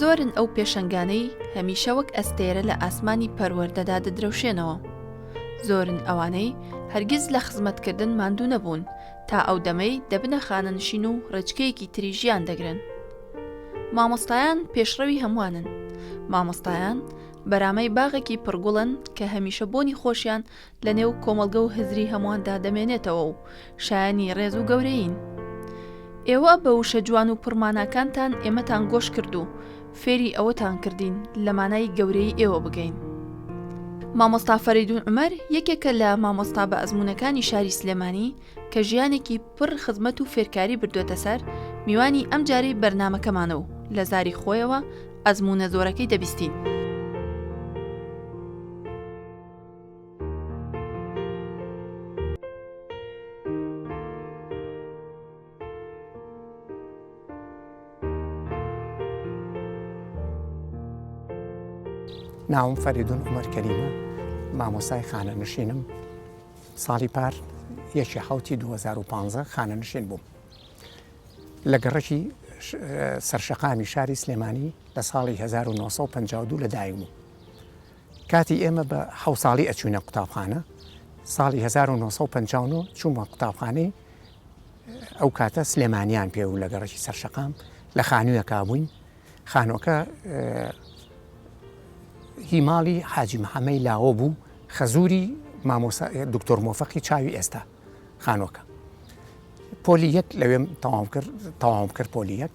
زۆرن ئەو پێشەنگانەی هەمیشە وەک ئەستێرە لە ئاسمانی پەروەردەدا دەدرەوشێنەوە زۆرن ئەوانەی هەرگیز لە خزمەتکردن ماندوو نەبوون تا ئەو دەمەی دەبنە خانەنشین و ڕێچکەیەکی تری ژیان دەگرن مامۆستایان پێشڕەوی هەمووانن مامۆستایان بەرامەی باغێکی پڕگوڵن کە هەمیشە بۆنی خۆشیان لە نێو کۆمەڵگە و هزری هەمواندا دەمێنێتەوە و شایەنی ڕێز و گەورەیین. ئێوە بە وشە جوان و پڕ ماناکانتان ئێمەتان گۆش کرد و فێری ئەوەتان کردین لە مانای گەورەیی ئێوە بگەین. مامۆستا فەرەیدوون عومەر یەکێکە لە مامۆستا بە ئەزموونەکانی شاری سلێمانی کە ژیانێکی پڕ خزمەت و فێرکاری بردووەتە سەر، میوانی ئەمجارەی بەرنامەکەمانە و لە زاری خۆیەوە ئەزموونە زۆرەکەی دەبیستین. ناوم فەریدون عمر کەریمە مامۆسای خانە نشینم ساڵی پار یەکی حوتی 2015 خانە نشین بووم لە گەڕەکی سەرشەقامی شاری سلێمانی لە ساڵی 1952 لە دایک بوو کاتی ئێمە بە حەوت ساڵی ئەچوینە قوتابخانە ساڵی هەزار و نۆ سەد و پەنجا و نۆ چوومە قوتابخانەی ئەو کاتە سلێمانیان پێ و لە گەڕەکی سەرشەقام لە خانوویەکە بووین خانووەکە هی ماڵی حاجی محەمەی لاوە بوو خەزووری مامۆسا دکتۆر مۆفەقی چاوی ئێستا خانووەکە پۆلی یەک لەوێم تەواو کرد تەواوم کرد پۆلی یەک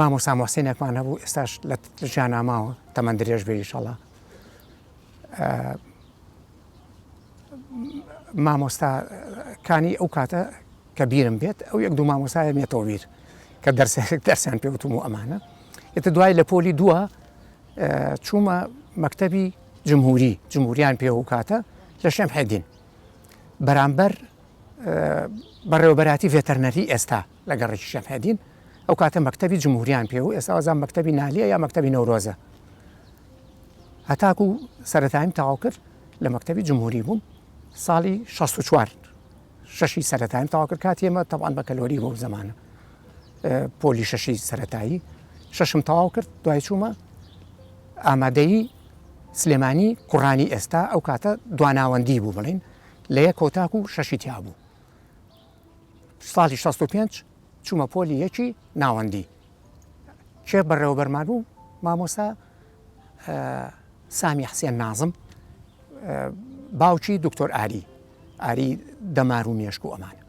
مامۆستا موحسینێکمان هەبوو ئێستاش لە ژیانا ماوە تەمەن درێژ بێ ئیشەڵا مامۆستا کانی ئەو کاتە کە بیرم بێت ئەو یەک دوو مامۆسایە مێتەوە بیر کە دەرسێک دەرسیان پێوتم و ئەمانە ئێتە دوای لە پۆلی دووە چوومە مەکتەبی جمهوری جمهوریان پێ و کاتە لە شێم حێدین بەرامبەر بەڕێوەبەراتی ڤێتەرنەری ئێستا لە گەڕەکیشیان هەیدین ئەو کاتە مەکتەبی جمهوریان پێ بوو ئێستا وازان مەکتەبی نالیە یا مەکتەبی نەورۆزە هەتاکو سەرەتایم تەواو کرد لە مەکتەبی جمهوری بووم ساڵی 64 شەشی سەرەتایم تەواو کرد کات ئێمە تەوان بە کەلۆری بۆ زمانە پۆلی شەشی سەتایی شەشم تەواو کرد دوای چوومە ئامادەیی سلێمانی کوڕانی ئێستا ئەو کاتە دواناوەندی بوو بڵین لە یە کۆتاک و شەشی تیا بوو ساڵی شەست و پێنج چوومە پۆلی یەکی ناوەندی کێ بەڕێوەبەرمان بوو مامۆستا سامی حسێن نازم باوکی دکتۆر ئاری ئاری دەمار و مێشک و ئەمانە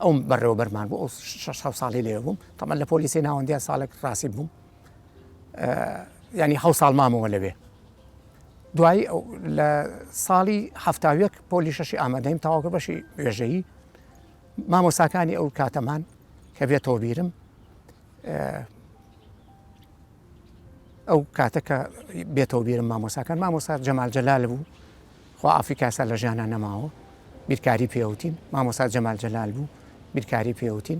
ئەو بەڕێوەبەرمان بۆ ئەو شش ساڵی لێ بووم تەمە لە پۆلیسی ناوەندیا ساڵێک ڕاستی بووم ینی حە ساڵ مامەوە لەوێ دوایی لە ساڵی هەفتاویەک پۆلی شەشی ئامادەیم تاواکە بەشی وێژەیی مامۆساکانی ئەو کاتەمان کە بێتەوە بیرم ئەو کاتە کە بێتەوە بیرم مامۆساکان مامۆسا جەمال جەلال بوو خوا ئافریکاسا لە ژیانە نەماوە بیرکاری پێوتین مامۆسا جەمال جەلال بوو بیرکاری پێوتین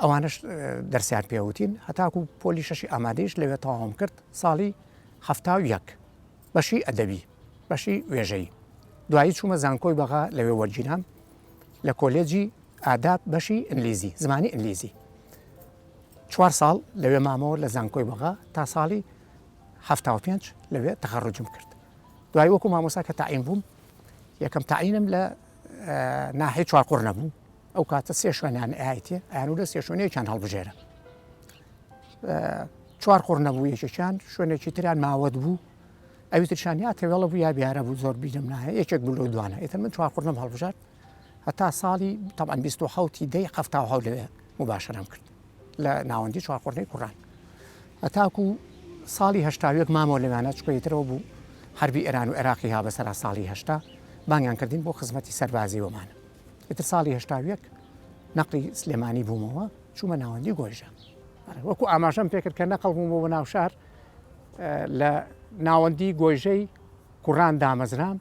ئەوانەش دەرسیان پێوتین هەتاکو پۆلی شەشی ئامادەیش لەوێ تەواوم کرد ساڵی هەفتا و یەک بەشی ئەدەبی بەشی وێژەی دوایی چوومە زانکۆی بەغا لەوێ وەرگیرام لە کۆلێجی ئاداب بەشی ئینگلیزی زمانی ئینگلیزی چوار ساڵ لەوێ مامەوە لە زانکۆی بەغا تا ساڵی هەفتا و پێنج لەوێ تەخەڕجم کرد دوای وەکو مامۆسا کە تاعیم بووم یەکەم تاعینم لە ناحی چوار قڕ نەبوو ئەو کاتە سێ شوێنان ئایتی ئەیانو لە سێ شوێنێکیان هەڵبژێرە چوار قڕ نەبوو یەکێکیان شوێنێکی تریان ماوەت بوو ئەوی ترشان یا تەوێڵە بوو یا بیارە بوو زۆر بیرم نایە یەکێک بلو دوانە ئێتر من چوار قڕنم هەڵبژات هەتا ساڵی تەبان 1970 دەی هەفتا هەولێ مباشرم کرد لە ناوەندی چوارقۆرنەی کوڕان هەتاکو ساڵی هەشتاوێک مامۆ لەوانە چکەیترەوە بوو حربی ئێران و عێراقی ها بەسەر ساڵی هەشتا بانگیان کردین بۆ خزمەتی سەربازی وەمان ئیتر ساڵی هەشتاوێک نەقلی سلێمانی بوومەوە چوومە ناوەندی گۆیژە وەکو ئاماژەم پێکرد کە نەقل بووم بۆ ناوشار لە ناوەندی گۆیژەی کوڕان دامەزرام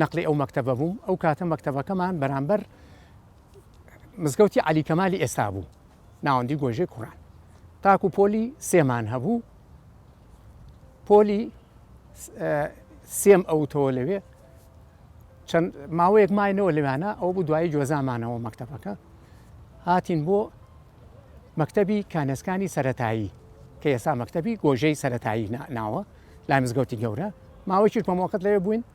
نەقلی ئەو مەکتتەبە بووم ئەو کاتە مەکتتەبەکەمان بەرامبەر مزگەوتی عەلی کەمالی ئێستا بوو ناوەندی گۆژێ کوڕان تاکو پۆلی سێمان هەبوو پۆلی سێم ئەوتەوە لەوێ چەند ماوەیەک ماینەوە لەوانە ئەو بوو دوایی جۆزامانەوە مەکتتەبەکە هاتین بۆ مەکتەبی کانەسکانی سەتایی کە ئێستا مەکتەبی گۆژەی سەتایی ناوە لای مزگەوتی گەورە ماوەی چیرکۆمەکەت لەوێ بووین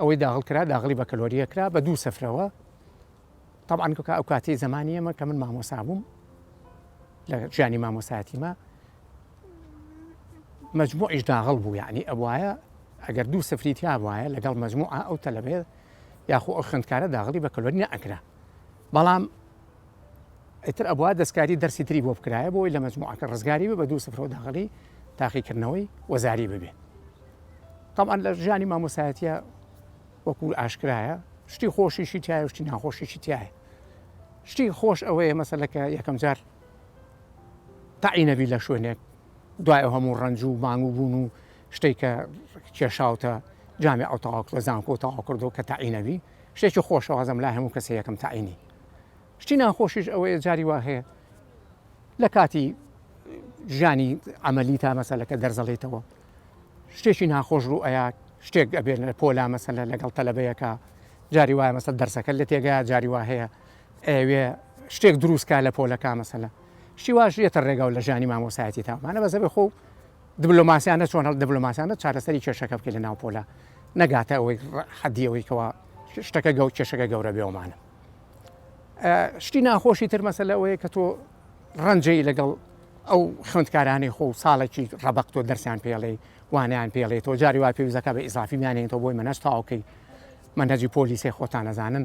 ئەوەی داغڵ کرا داغڵی بەکەلۆریە کرا بە دوو سفرەوە طبعاان کە ئەو کاتی زمانی ئەمە کە من مامۆسا بووم لە ژیانی مامۆساتیمە مجموعیش داغڵ بوو یعنی ئەوایە ئەگەر دوو سفری تیا وایە لەگەڵ مجموعە ئەو تەلەبێت یاخۆ ئەو خوندکارە داغڵی بە کەلۆری نەئەکرا بەڵام ئیتر ئەبوا دەستکاری دەرسی تری بۆ بکرایە بۆی لە مەجموعەکە ڕزگاری بێ بە دوو سفرەوە داخلی تاقیکردنەوەی وەزاری ببێ طبعا لە ژیانی مامۆسایەتە وەکو ئاشکرایە شتی خۆشیشی تایە شتی ناخۆشیشی تایە شتی خۆش ئەوەیە مەسلەکە یەکەم جار تاعینەبی لە شوێنێک دوای هەموو ڕنج و مانگ و بوون و شتێک کە کێشاوتە جامی ئەو تەواو لە زانکۆ تەواو کردو کە تاعینەوی شتێکی خۆشەوازم لا هەموو کەسە یەکەم تاعینی شتی ناخۆشیش ئەوەیە جاری وا هەیە لە کاتی ژیانی ئەمەلی تا مەسەلەکە دەرزەڵێتەوە شتێکی ناخۆش ڕوو ئەیا شتێک ئەبێت لە پۆلا مەسەلە لەگەڵ تەلەبەیەەکە جاری وایە مەسەل دەرسەکە لە تێگا جاری وا هەیە ئەوێ شتێک دروستکە لە پۆلەکە مەسەلە شیواش یەتە ڕێگا و لە ژانی مامۆسایەتی تاوانە بەزەبێ خۆ دبلۆماسیانە چۆن هەڵ دبلۆماسیانە چارەسەری کێشەکە بکەین لە ناو پۆلە نەگاتە ئەوەی حەدی ئەوەی کەوا شتەکە گەو کێشەکە گەورە بێومانە شتی ناخۆشی تر مەسە لەوەیە کە تۆ ڕەنجەی لەگەڵ ئەو خوندکارانی خۆ ساڵێکی ڕەبق تۆ دەرسیان پێڵێ وانیان پێڵێ تۆ جاری وا پێویستەکە بە ئیزافی میانێنەوە بۆی منەش تاوکەی منەجی پۆلیسی خۆتانەزانن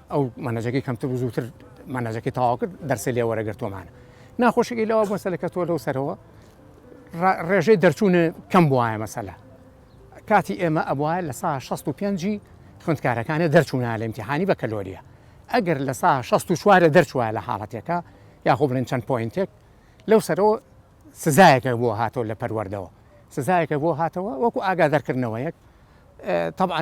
ئەو مەنەجەکەی کەمتر و زووتر مەنەجەکەی تەواو کرد دەرسی لێ وەرەگرتومانە ناخۆشەکەی لەوە بۆ سەلەکە تۆ لەو سەرەوە ڕێژەی دەرچوونە کەم بواە مەسەلا کاتی ئێمە ئەبواە لە سا 65 خوندکارەکانە دەرچوونە لە امتحانی بە کەلۆریە ئەگەر لە سا 64 دەرچووە لە حاڵەتێکە یاخۆ بڵێن چەند پوینتێک لەو سەرەوە سزایەکە بۆ هاتەوە لە پەروەردەوە سزایەکە بۆ هاتەوە وەکو ئاگا دەرکردنەوەیەک طبعاً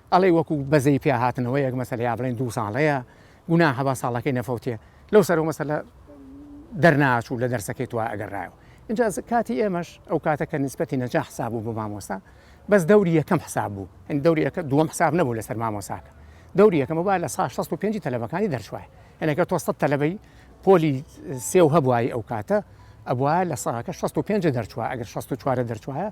ئەڵێی وەکو بەزەی پیا هاتنەوەیەک مەسەلە یا بڵێن دوو ساڵەیە گوناحە با ساڵەکەی نەفەوتێ لەو سەرەوە مەسەلە دەرناچوو لە دەرسەکەی تو ئەگەڕایەوە اینجا کاتی ئێمەش ئەو کاتە کە نسبەتی نەجا حساب بوو بۆ مامۆستا بەس دەوری یەکەم حساب بوو هەند دەوری یەکە دووەم حساب نەبوو لەسەر مامۆساکە دەوری یەکەمە با لە سا 65 تەلەبەکانی دەرچوایە هەنەکە تۆ سە تەلەبەی پۆلی سێو هەبووای ئەو کاتە ئەبواە لە ساکە 65 دەرچوە ئەگەر 64 دەرچوایە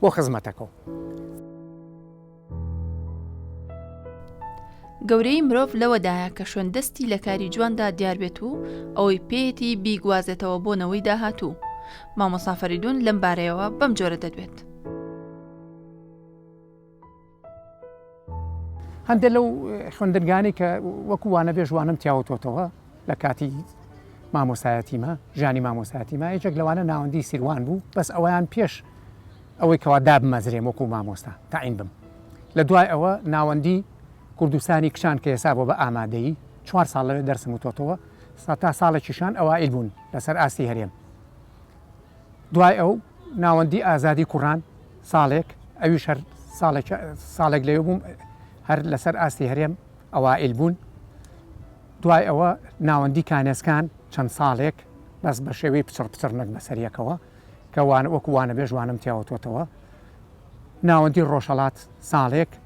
بۆ خزمەتەکەو. گەورەیی مرۆڤ لەوەدایە کە شوێن دەستی لە کاری جواندا دیار بێت و ئەوەی پێیەتی بیگوازێتەوە بۆ نەوەی داهاتوو مامۆسافەریدون لەم بارەیەوە بەم جۆرە دەدوێت. هەندێک لەو خوێندنگانەی کە وەکو وانەبێژ وانم تیاوتۆتەوە لە کاتی مامۆسایەتیمە ژانی مامۆساتیمە یەکێک لەوانە ناوەندی سیروان بوو بەس ئەویان پێش ئەوەی کەوا دابمەزرێم وەکو مامۆستا تاعین بم لە دوای ئەوە ناوەندی کوردستانی کچان کە ئێسا بۆ بە ئامادەی چوار ساڵ لەوێ دەرسم وتۆتەوە سا تا ساڵێکیشان ئەوائیل بوون لەسەر ئاستی هەرێم دوای ئەو ناوەندی ئازادی کوڕان ساڵێک ئەویش هەر ساڵێک لەوێ بووم هەر لەسەر ئاستی هەرێم ئەوائل بوون دوای ئەوە ناوەندی کانێسکان چەند ساڵێک بەس بە شێوەی پچڕ پچڕ نەک بەسەریەکەوە کەوان وەکووانە بێژوانم تیاوەتەوە ناوەندی ڕۆژهڵات ساڵێک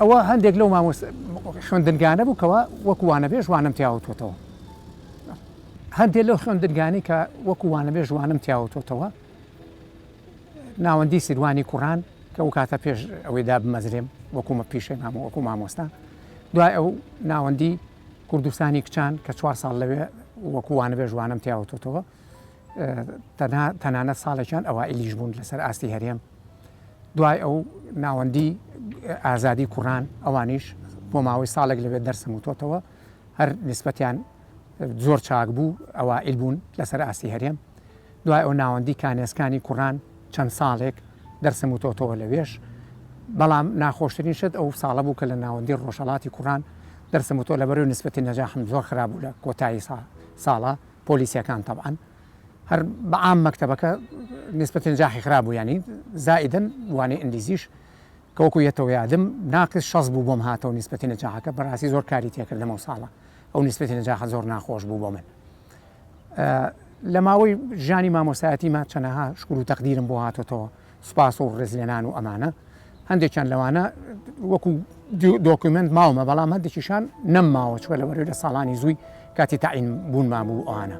ئەوە هەندێک لەو مامۆستا خوێندنگانە بوو کەوا وەکو وانەبێژ وانەم تیاوتوێتەوە هەندێک لەو خوێندنگانی کە وەکو وانەبێژ وانەم تیاوتوێتەوە ناوەندی سیروانی کوڕان کە ئەو کاتە پێش ئەوەی دابمەزرێم وەکومە پیشەی مام وەکو مامۆستا دوای ئەو ناوەندی کوردستانی کچان کە چوار ساڵ لەوێ وەکووانە بێژوانم تیاوتەوە تەنها تەنانەت ساڵێکیان ئەوائیلیش بوون لەسەر ئاستی هەرێم دوای ئەو ناوەندی ئازادی کوڕان ئەوانیش بۆ ماوەی ساڵێک لەوێ دەرسم وتۆتەوە هەر نسبەتیان زۆر چاک بوو ئەوائیل بوون لەسەر ئاستی هەرێم دوای ئەو ناوەندی کانێسکانی کوڕان چەند ساڵێک دەرسم وتۆتەوە لەوێش بەڵام ناخۆشترین شت ئەو ساڵە بوو کە لە ناوەندی ڕۆژەڵاتی کوڕان دەرسم وتۆ لە بەرەو نسبەتی نەجاحم زۆر خرابوو لە کۆتایی ساڵ ساڵە پۆلیسەکان تەبعەن هەر بە عام مەکتەبەکە نیسبەت نجاحی خراپ بوو یانی زائیدەن وانەی ئینگلیزیش کە وەکو یەتەوە یادم ناقص شەست بوو بۆم هاتەوە نیسبەتی نجاحەکە بەڕاستی زۆر کاری تێکردم ئەو ساڵە ئەو نیسبەتی نجاحە زۆر ناخۆش بوو بۆ من لە ماوەی ژانی مامۆستایەتی ما چەنەها شکر و تەقدیرم بۆ هاتۆتەوە سوپاس و ڕێزلێنان و ئەمانە هەندێکیان لەوانە وەکو دۆکیمنت ماومە بەڵام هەندێکیشان نەمماوە چوە لە وەرێ لە ساڵانی زووی کاتی تاعین بوون مابوو ئەوانە.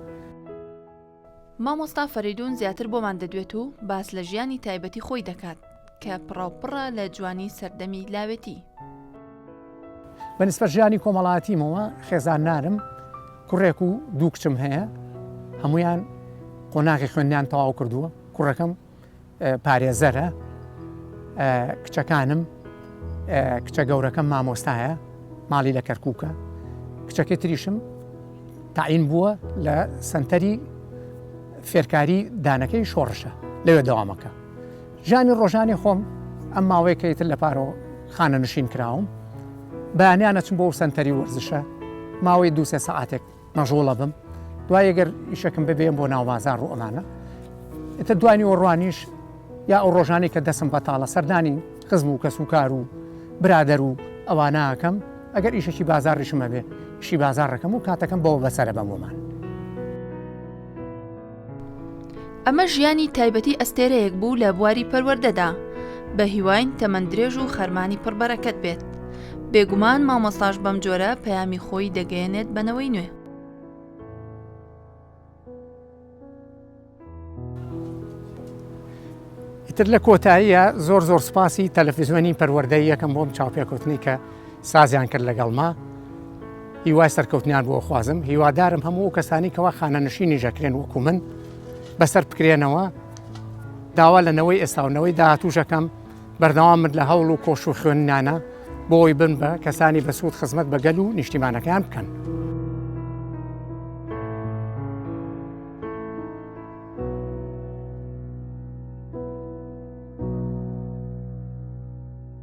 مامۆستا فەریدون زیاتر بۆمان دەدوێت و باس لە ژیانی تایبەتی خۆی دەکات کە پڕاوپڕە لە جوانی سەردەمی لاوێتی. بە نسبەت ژیانی کۆمەڵاتیمەوە خێزان نارم کوڕێک و دوو کچم هەیە هەمویان قۆناغی خوێندیان تەواو کردووە کوڕەکەم پارێزەرە، کچەکانم کچە گەورەکەم مامۆستایە ماڵی لە کەرکووکە کچەکەی تریشم تاعین بووە لە سنتەری فێرکاری دانەکەی شۆڕشە لەوێ داوامەکە ژانی ڕۆژانی خۆم ئەم ماوەی کەیتر لە پارۆ خانە نشین کراوم بەیانیانە چم بۆ سنتەری وەرزشە ماوەی دوسێ سەعاتێک مەژوڵە بم دوای گەر ئیشەکەم ببێن بۆ ناوبازار ڕوو ئەمانە ئتە دوانی و ڕوانیش یا ئەو ڕۆژانی کە دەسم بەتاڵە سەردانی خزم و کەس و کار و برادەر و ئەواناکەم ئەگەر ئیشەکی بازاڕیشمە بێ شی بازارڕەکەم و کاتەکەم بەوە بەسەرە بەمۆمان ئەمە ژیانی تایبەتی ئەستێرەیەک بوو لە بواری پەروەردەدا بە هیواین تەمەن درێژ و خەرمانی پڕبەرەکەت بێت بێگومان مامۆستاش بەم جۆرە پەیامی خۆی دەگەیەنێت بەنەوەی نوێ تر لە کۆتاییە زۆر زۆر سپاسی تەلەفزیۆنی پەروەەردەی یەکەم بۆم چاوپێکوتنی کە سازیان کرد لەگەڵما هیوای سەرکەوتنیان بۆ خوازم هیوادارم هەموو کەسانی کەوا خانەنشینی ژەکرێن وەکو من بەسەر بکرێنەوە داوا لە نەوەی ئێستاونەوەی داهاتووشەکەم بەردەوام من لە هەوڵ و کۆش و خوێننانە بۆی بن بە کەسانی بەسوود خزمەت بەگەل و نیشتیمانەکان بکەن.